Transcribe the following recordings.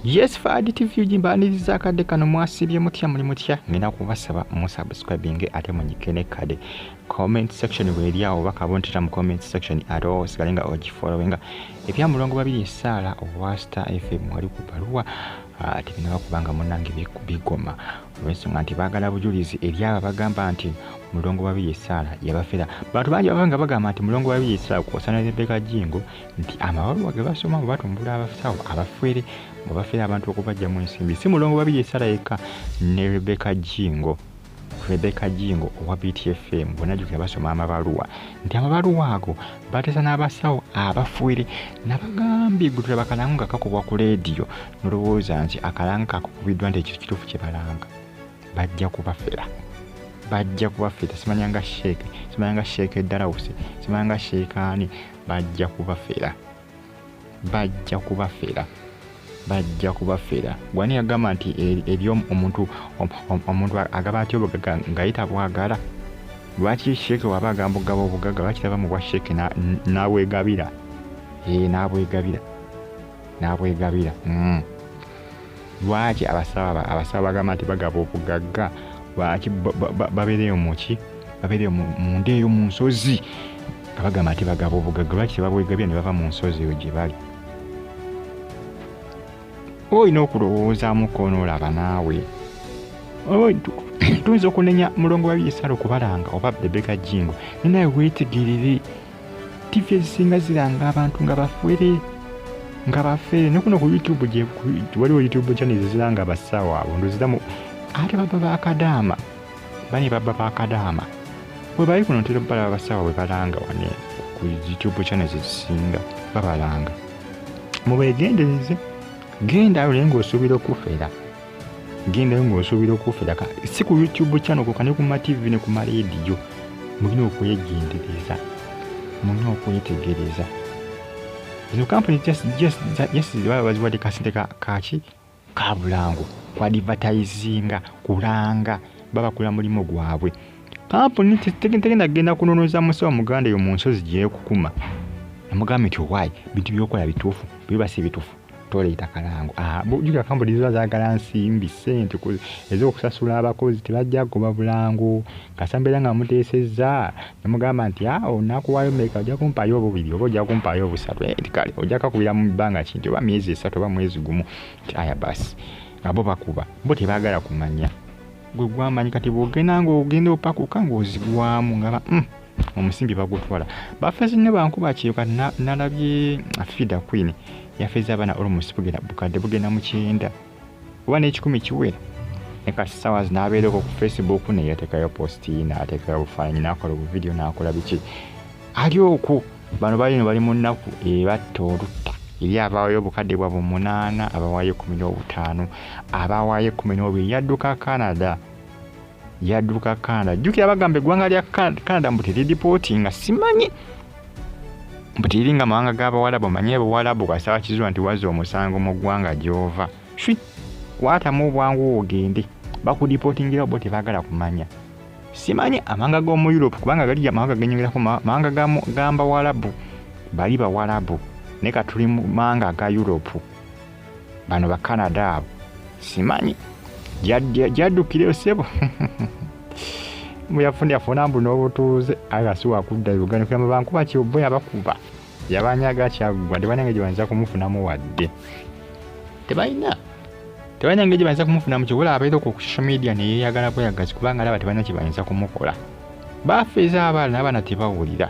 yes fad tv gimbaniriza akadde kano mwasibye mutya muli mutya ngenda kubasaba musubscribinge ate munyike ne kade comment section weeri awo oba kabontera mu comment section ate osigale nga ogifolowinga ebya mulongo babiri esaala owa star fm wali ku baluwa ah, tebinaba kubanga munange bigoma olwensonga nti baagala bujulizi eri abo abagamba nti mulongo babiri esaala yabafera bantu bangi baba nga bagamba nti mulongo babiri esaala kwosana rebeka jingo nti amabaluwa ge basoma bwe batumbula abasawo abafere bwe bafera abantu okubajja mu ensimbi si mulongo babiri esala yekka ne rebeka jingo rebeka jingo owa btfm bwenajukira basoma amabaluwa nti amabaluwa ago bateesa n'abasawo abafere nabagambye gwe tulaba kalango nga kakubwa ku leediyo nolowooza nti akalango kakukubiddwa nti ekyo kituufu kye balanga bajja kubafera bajja kubafera simanyanga sheeke simanyanga sheeke dalawusi simanyanga sheekaani bajja kubafera bajja kubafera bajja kubafera gwani yagamba nti e, eri omuntu omuntu agaba atya obugaga ngaye tabwagala lwaki sheeke waba agamba ogaba obugaga lwaki taba mu bwa sheeke nabwegabira ee nabwegabira nabwegabira mm. lwaki abasawo abasawo bagamba nti bagaba obugagga lwaki babeereyo muki babeereyo munda eyo mu nsozi nga bagamba nti bagaba obugagga lwaki tebabwegabya ne bava mu nsozi eyo gye bali olina okulowoozamuko onoolaba naawe tuyinza okunenya mulongo wa bisala okubalanga oba bebeka jingo ninaye weetigirire ttivi ezisinga ziranga abantu nga bafwere nga bafere ne kuno ku youtube waliwo youtube channel zeziranga abasawo abo ndoziramu ate baba bakadaama bane baba bakadaama webali kuno ntera balaba abasawo bwe balanga wane ku youtube channel zezisinga babalanga mubegendereze genda awo naye ngaosuubira okufera gendayo ng'osuubira okufera si ku youtube channel koka ne ku mativi ne ku maleediyo mulina okwegendereza mulina okwetegereza zino kampuni jesiziba baziwadde kasente kaki ka bulango kwadivatayizinga kulanga babakola mulimu gwabwe kampuni tegenda kugenda kunonoza musawo muganda eyo mu nsozi gyekukuma namugamba nti owaayi bintu byokola bituufu bibasi bitufu toleeta kalango ah, jukira kampuni ziba zagala nsimbi sente ezokusasula abakozi tebajja kugoba bulango kasa mbeera nga muteesezza nemugamba nti ah, onakuwayo meka ojja kumpaayo obubiri oba ojja kumpaayo obusatu eh, kale ojja kakubira mu bbanga kinti oba myezi esatu oba mwezi gumu ti aya basi nga bo bakuba bo tebagala kumanya gwe gwamanyi kati bwogenda ngaogenda opakuka ngaozigwamu ngaba mm. omusimbi bagutwala bafezi ne bankuba kyoka nalabye afida queen yafeza abana almost bugenda bukadde bugenda mu kyenda oba n'ekikumi kiwera nekati sawa zinabeereko ku facebook naye atekayo posti naatekayo bufaananyi nakola obuvidiyo nakola biki ali oku bano balino bali mu nnaku ebatta olutta eri abawaayo obukadde bwabwe omunaana abawaayo ekumi n'obutaano abawaayo ekumi n'obiri yadduka canada yadduka Canada jjukira bagamba eggwanga lya Canada mbu teridipootinga simanyi mbu teriri nga mawanga g'abawalabu manyi abawalabu kasaba kizuula nti waza omusango mu ggwanga gy'ova shwi kwatamu obwangu ogende bakudipootingirawo bo tebaagala kumanya simanyi amawanga g'omu europe kubanga gali amawanga genyongerako mawanga gambawalabu bali bawalabu naye ka tuli mu mawanga aga europe bano ba canada abo simanyi gyaddukireyo sebo muyafuna yafuna mbu n'obutuuze aga si wakudda uganda kuya mubankuba kyobo yabakuba yabanyaga kyaggwa tebanyange gyebayinza kumufunamu wadde tebalina tebalina ngeri gyebayinza kumufunamu kyobola abeera ku social media neyeyagala bweyagazi kubanga alaba tebalina kyebayinza kumukola bafeeza abaana abaana tebawulira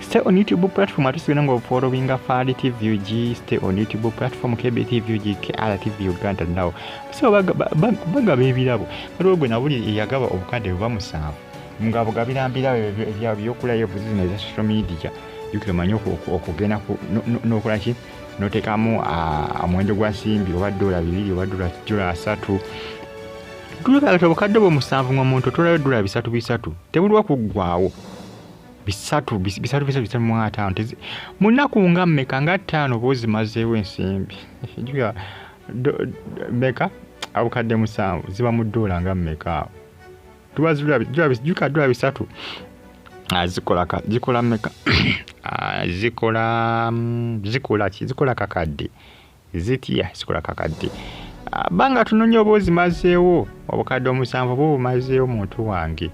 Stay on YouTube platform atusigana nga ofollowinga Fali TV UG. Stay on YouTube platform KBTV UG KRTV Uganda now. So bagaba ebirabo. Kati ogwe nabuli eyagaba obukadde buba musanvu. Nga bugabira mbira ebya byokula yo buzina za social media. Yukira manyo okugena ku nokola ki notekamu omwendo gwa simbi oba dola bibiri oba dola dola asatu. Tuleka obukadde bwo musanvu ng'omuntu otolayo dola bisatu bisatu. Tebulwa kuggwawo. bisatu bisatu bisatu bisatu mu ataano mu nnaku nga mmeka nga ttaano oba ozimazeewo ensimbi juga meka abukadde musanvu ziba mu ddoola nga mmeka awo tuba zijuka ddoola bisatu zikola zikola meka zikola zikola ki zikola kakadde zitya sikola kakadde ah, banga tunonya oba ozimazeewo obukadde omusanvu oba obumazeewo muntu wange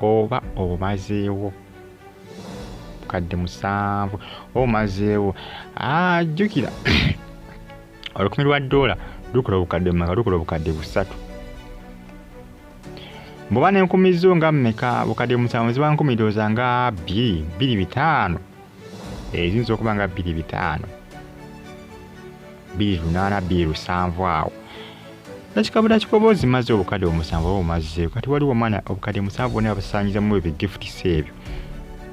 oba obumazeewo obukadde musanvu oba obumazeewo ah, jjukira olukumi lwa doola lukola obukadde mumeka lukola obukadde busatu bwoba nenkumi zo nga mumeka bukadde musanvu ziba nkumi dooza nga bbiri bbiri bitaano eziyinza okuba nga bbiri bitaano bbiri lunaana bbiri lusanvu awo nakikabula kikoboozi maze obukadde omusanvu oba omazzeeko kati waliwo omwana obukadde musanvu bona basanyizamu ebyo gifutisa ebyo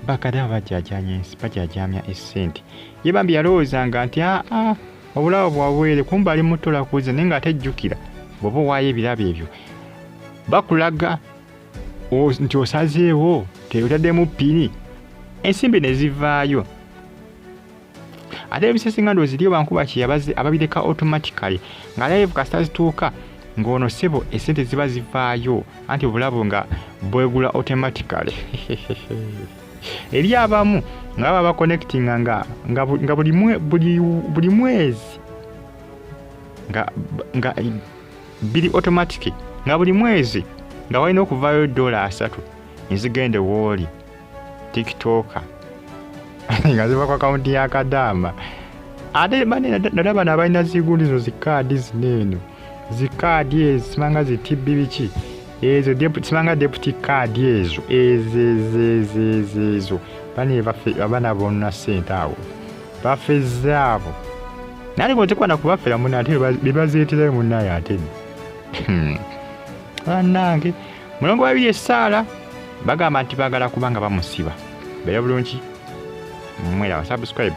bakadde abo bajajanya ensi bajajamya essente ye bambi yalowoozanga nti aa ah, ah, obulawo bwabwere kumba ali mutolakuuza naye nga ate jjukira bwoba owaayo ebirabo ebyo bakulaga nti osazeewo teyotaddemu pini ensimbi ne zivaayo ate ebisesi nga ndoziriyo bankuba kyeyabaze ababireka automatically nga live kasita zituuka ng'ono sebo esente ziba zivaayo anti obulabo nga bwegula automatically eri abamu nga baba connectinga nga, nga, nga buli, mwe, buli, buli mwezi nga, nga biri otomatiki nga buli mwezi nga walina okuvaayo dola asatu nezigende wooli tiktoka nga ziva ku akawunti ya kadaama ate nada bano abalina zigundi zino zikaadi zino eno zikaadi ezo simanga zitibbi biki ezo simanga deputi kaadi ezo ezezezezezo bana baffe abana bonna ssente awo bafezze abo nali bwetekwana kubafera muna ate bebazeeterayo munaye ate hmm. banange mulongo babiri esaala bagamba nti bagala kubanga bamusiba bera bulungi mwera wa subscribe